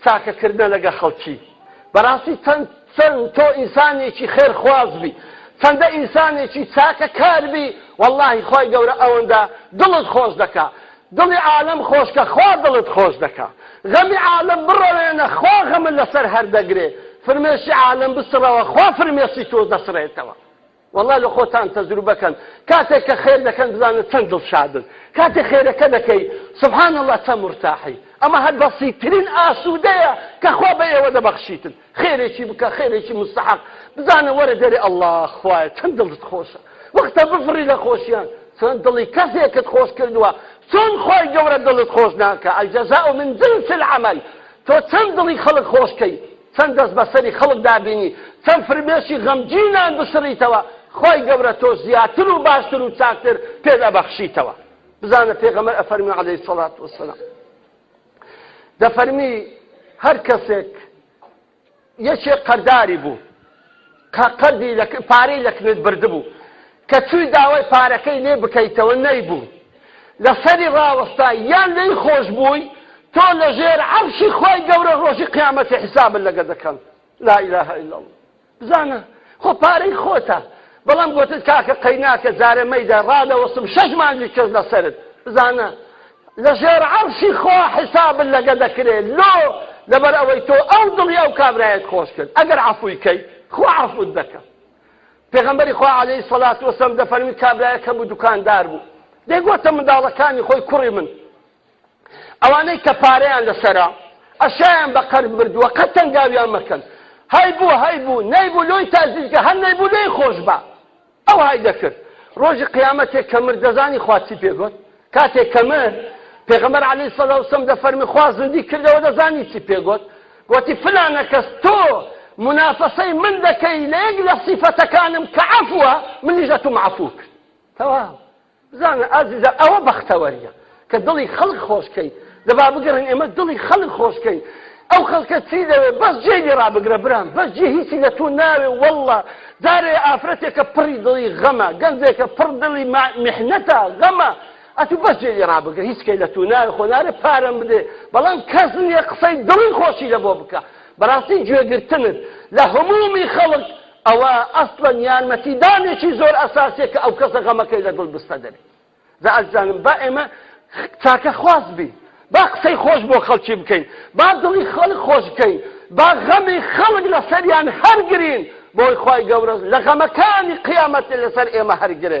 چاکەکردنە لەگە خەڵکی بەراستی چەند چەند تۆ ئینسانێکی خێر خواز بی چەندە ئینسانێکی چاکە کار بی واللهی خی گەورە ئەوەندە دڵت خۆش دەکا دڵی عالم خۆشکە خوا دڵت خۆش دەکا غەمی عالم بڕەوێنە خوا غەمە لەسەر هەردەگرێ فرمێشی عالم بسڕەوە خوا فرمێسی تۆ دەسڕێتەوە وەڵا لە خۆتان تەجروبە کەن کاتێک کە خێر دەکەن بزانە چەند دڵشادن کاتێ خێرەکە دەکەی سبحان اللە چەند مرتاحی ئەمە هەر بەسیترین ئاسوودەیە کە خوا بە ئێوە دەبەخشیتن خێرێکی بکە خێرێکی مستحق بزانە وەرە دەرێ اللە خوایە چەند دڵت خۆشە وەختە بفڕی لە خۆشیان چۆن دڵی کەسێکت خۆش کردووە چۆن خۆی گەورە دڵت خۆش ناکە الجزاء من جنس العمل تۆ چەند دڵی خەڵک خۆشکەی چەند دەست بەسەری خەڵکدا بینی چەند فرمێسکی غەمگینان بسڕیتەوە خوای گەورە تۆ زیاتر و باشتر و چاکتر پێت ئەبەخشیتەوە بزانە پێغەمبەر ئەفەرمی عەلەیهی سەڵات وەسەلام دەفەرمی هەر کەسێک یەکێ قەرداری بوو کە قەردی لە پارەی لە کنت بردبوو، کە چووی داوای پارەکەی لێ بکەیتەوە نەیبوو، لە سەری ڕاوەستای یان لێی خۆش بووی، تۆ لە ژێر عەرشی خوای گەورە ڕۆژی قیامەتی حیسابت لەگە دەکەم. لا الە الا اللە. بزانە خۆ پارەی خۆتە، بەڵام گۆتت کاکە قەیناکە جارێ مەیدە ڕادەوەستم شەش مانگی کەس لە سەرت. بزانە. لەژێر عەرشی خوا حیسابت لەگە دەکرێ لۆ لەبەر ئەوەی تۆ ئەو دڵی ئەو کابرایەت خۆش کرد ئەگەر عەفوی کەی خوا عەفوت دەکا پێغەمبەری خوا عەلەیهی سەڵات وەسەم دەفەرمی کابرایەک هەبوو دوکاندار بوو دەیگوتە منداڵەکانی خۆی کوڕی من ئەوانەی کە پارەیان لەسەرە ئەشیان بە قەرز بردووە قەت تەنگاویان مەکەن هەی بوو هەی بوو نەی بوو لۆی تازیزگە هەر نەی بوو لێی خۆش بە ئەوهای دەکرد ڕۆژی قیامەتێ کە مرد دەزانی خوا چی پێ گۆت کاتێک کە مرد پێغەمبەر عەلەیهی سەڵاو سەم دەفەرمی خوا زندی کردەوە دەزانی چی پێ گۆت گۆتی فلانە کەس تۆ منافەسەی من دەکەی لە یەک لە سیفەتەکانم کە عەفوە منیش ئەتوم عەفو کرد تەواو بزانە ئازیزە ئەوە بەختەوەریە کە دڵی خەڵک خۆشکەی دەبا بگەڕین ئێمە دڵی خەڵک خۆشکەین ئەو خەڵکە چی دەوێت بەس جێ لێ ڕابگرە برام بەس جێ هیچی لە تۆ ناوێ واللە جارێ ئافرەتێکە پڕی دڵی غەمە گەنجێکە پڕ دڵی محنەتە غەمە ئەتو بەس جێ لێ ڕابگرە هیچ کەی لە تۆ ناوێ خۆنارێ پارەم بدێ بەڵام کەس نییە قسەی دڵی خۆشی لە بۆ بکە بەڕاستی گوێگرتنت لە هەمومی خەڵک ئەوە ئەسڵەن یارمەتی دانێکی زۆر ئەساسیە کە ئەو کەسە غەمەکەی لە دڵ بستە دەبێت جا ئەزانم با ئێمە چاکە خواست بین با قسەی خۆش بۆ خەڵکی بکەین با دڵی خەڵک خۆش بکەین با غەمی خەڵک لەسەریان هەرگرین بۆی خی گەورە لە غەمەکانی قیامەت لەسەر ئێمە هەرگرێ